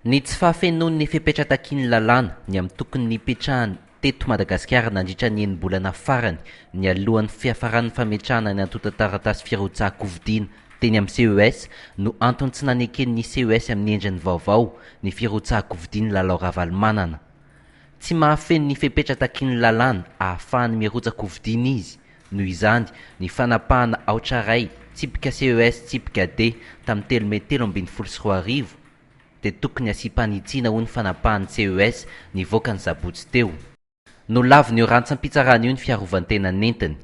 Ny tsy fahafenoan'ny fepetra takian'ny lalàna ny amin'ny tokony nipetrahany teto Madagasikara nandritra ny enim-bolana farany nialohan'ny fiafaran'ny fametrahana ny antontan-taratasy firotsahan-kofidina teny amin'ny CES no antony tsy naneken'ny CES amin'ny endriny vaovao ny firotsahan-kofidin'i Lalao Ravalomanana. Tsy mahafeno ny fepetra takian'ny lalàna ahafahany mirotsa-kofidina izy Noho izany, ny fanapahana aotra iray, tsipika CES tsipika D, tamin'ny telo mey telo ambin'ny folo sy roa arivo, dia tokony hasiam-panitsiana ho ny fanapahan'ny CES nivoaka ny sabotsy teo. Nolavin'io rantsam-pitsarana io ny fiarovan-tena nentiny.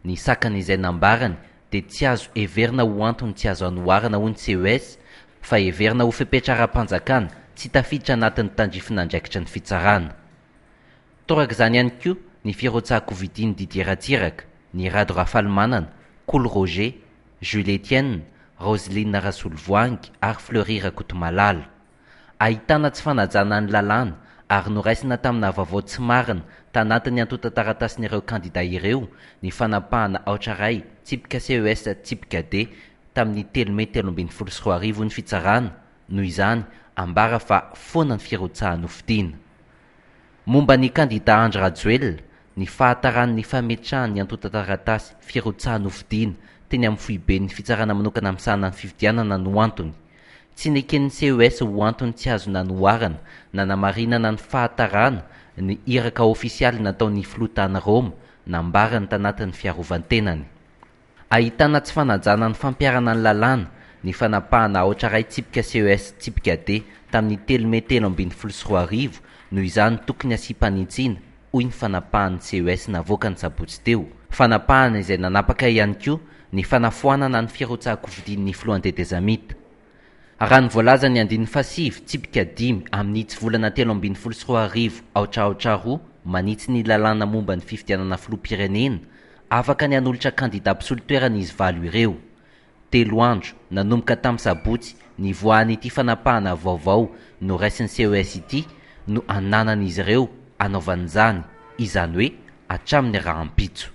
Ny sakana izay nambarany dia tsy azo heverina ho antony tsy azo anoharana ho ny CES fa heverina ho fepetra ara-panjakana tsy tafiditra anatin'ny tandrifin'andraikitry ny fitsarana. Torak'izany ihany koa ny firotsahan-kovidin'i Didier Ratsiraka, ny Rado Rafalimanana, Kolo Roger, Jules Etienne, Roseline Rasolovoangy ary Fleury Rakotomalala. Ahitana tsy fanajana ny lalàna ary noraisina tamina vaovao tsy marina tanatin'ny antontan-taratasin'ireo kandida ireo ny fanapahana aotra iray tsipika CES tsipika D tamin'ny telo mey telo ambin'ny folo sy roa arivo ny fitsarana noho izany ambara fa foana ny firotsahan-hofidiana. Momba ny kandidà Andry Rajoelina, ny fahatarany ny fametrahany ny antontan-taratasy firotsahany hofidiana teny amin'ny foiben'ny fitsarana manokana misahana ny fifidianana no antony. Tsy neken'ny CES ho antony tsy azo nanoharana nanamarinana ny fahatarana ny iraka ofisialy nataon'ny filoha tany Roma nambarany tanatin'ny fiarovan-tenany. Ahitana tsy fanajana ny fampiharana ny lalàna, ny fanapahana aotra iray tsipika CES tsipika D tamin'ny telo mey telo ambin'ny folo sy roa arivo, noho izany tokony asiam-panitsiana, hoy ny fanapahan'ny CES navoaka ny sabotsy teo. Fanapahana izay nanapaka ihany koa ny fanafoanana ny firotsahako fidin'ny filohan'ny tetezamita. Raha ny voalazan'ny andininy fahasivy, tsipika dimy, amin'ny hitsivolana telo ambin'ny folo sy roa arivo, aotra aotra roa, manitsy ny lalàna momba ny fifidianana filoham-pirenena, afaka ny hanolotra kandidà mpisolo toerana izy valo ireo. Telo andro, nanomboka tamin'ny sabotsy, nivoahan'ity fanapahana vaovao noraisin'ny CES ity, no ananan'izy ireo hanaovana izany, izany hoe hatramin'ny rahampitso.